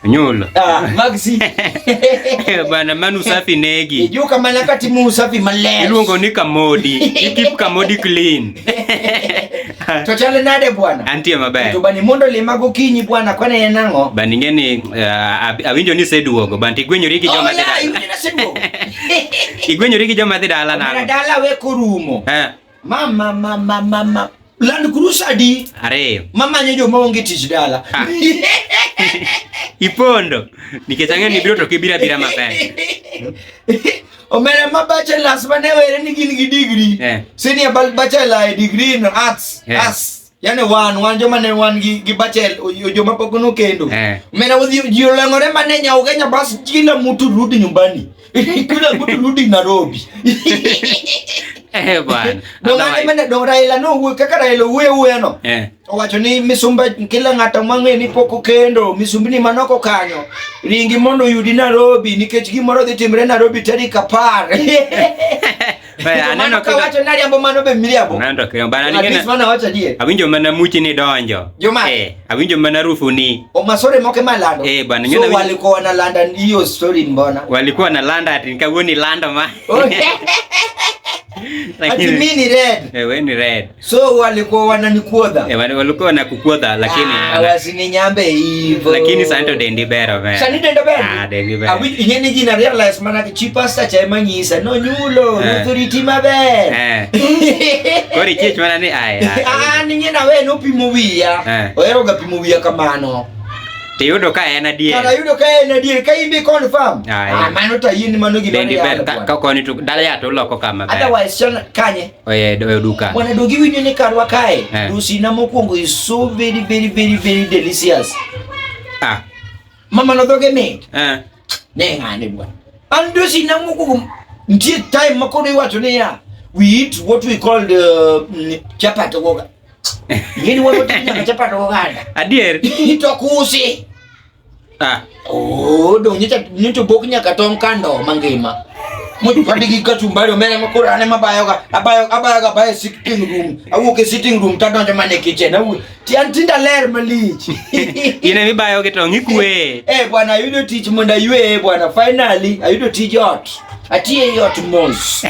Nyola. Ah, Maxi. Bana manu usafi negi. Juu kama nakati mu usafi maleo. Iluongo ni kamodi. Keep kamodi clean. Tochale nade bwana? Antie maber. To bani mondo lima gokinyi bwana kwana en ang'o? Bani ngeni uh, eh, awinjo ni seduogo banti gwenyori gi joma oh, dhi dala. Igwenyori gi joma dhi dala na. Dala we korumo. Eh. Mama mama mama Land Cruiser adi? Are. Mama nyejo maonge tich dala. Ah. Ipondo. Nikechang'e ni biro to kibira bira maber. Omera ma bachelors ma ne were ni gin gi degree. Yeah. Senior bachelor e degree in arts. Yeah. Arts. yani wan wan joma ne wan gi gi bachel joma pok no kendo eh. mena wadhi ji oleng'ore mane nyaugenya bas kila mtu rudi nyumbani kila mtu rudi Nairobi eh bwana dongane mane do Raila no wuo kaka Raila wuo wuo no eh owacho ni misumba kila ng'ato mang'e ni pok okendo misumbni manoko kanyo ringi mondo yudi Nairobi nikech gimoro dhi timre Nairobi tarik apar Aneno ka wacho nari ambo mano be miriambo. Nando kero bana ni kena. Bana wacho die. Awinjo mana muchi ni donjo. Joma. Eh, awinjo mana rufu ni. O masore moke malando. Eh, bana nyona. So walikuwa wanalanda hiyo story mbona? Walikuwa wanalanda ati nikawoni landa ma. Ati mimi ni red. Eh, wewe ni red. So walikuwa wananikuodha. Eh, walikuwa wanakukuodha lakini ah, wasininyambe hivyo. Lakini santo dendi bero bero. Sani dendi bero. Ah, dendi bero. Abi yene jina realize maana kichipa sa cha manyisa no nyulo eh. authority mabe. Eh. Kori chich maana ni aya. Ah, ni nyina we no pimuwia. Eh. Oyero ga pimuwia kamano. Tiyudo ka en adier. Kata yudo ka en adier ka in be confirm. Ah, mano to yini mano gima. Dendi bero ka koni to dala ya to loko kama. Otherwise kanye. oye oyo duka bwana dogi winyo ni karwa kae eh. dusina mokwongo is so very very very very delicious ah mama no doge mit eh ne ngane bwana an dusina mokwongo ntie time makoro iwacho ni ya we eat what we call the mm, chapat goga yini wano tinya chapat goga adier to kusi Ah. Oh, dong nyicha nyicho bok nyaka tong kando mangima. Much padi gi kachumbari omene ma kura ne mabayo ga abayo abayo ga bayo sitting room. Awuok e sitting room ta donjo mane kitchen. Awu ti antinda ler malich. Ine mi bayo gi tong ikwe. Eh bwana ayudo tich mondo aywe bwana finally ayudo tich ot. Atiye e ot mos.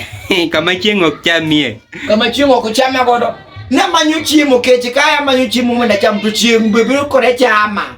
Kama chieng' ok chamie. Kama chieng' ok chama godo. Namanyo chiemo keche kaya manyo chiemo mondo acham to chieng' biro kore chama.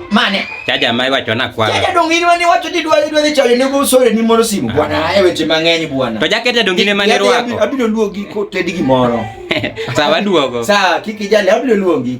Mane? Chaja mai wacho na kwa. Chaja dongini wani wacho ti dwa dwa ni chayo nego sore ni moro simu ah. bwana. Aye weche mang'eny bwana. To jakete dongine mane rwako. Abiro luogi ko tedi gimoro. Sawa duogo. Sawa kiki jale abiro luogi.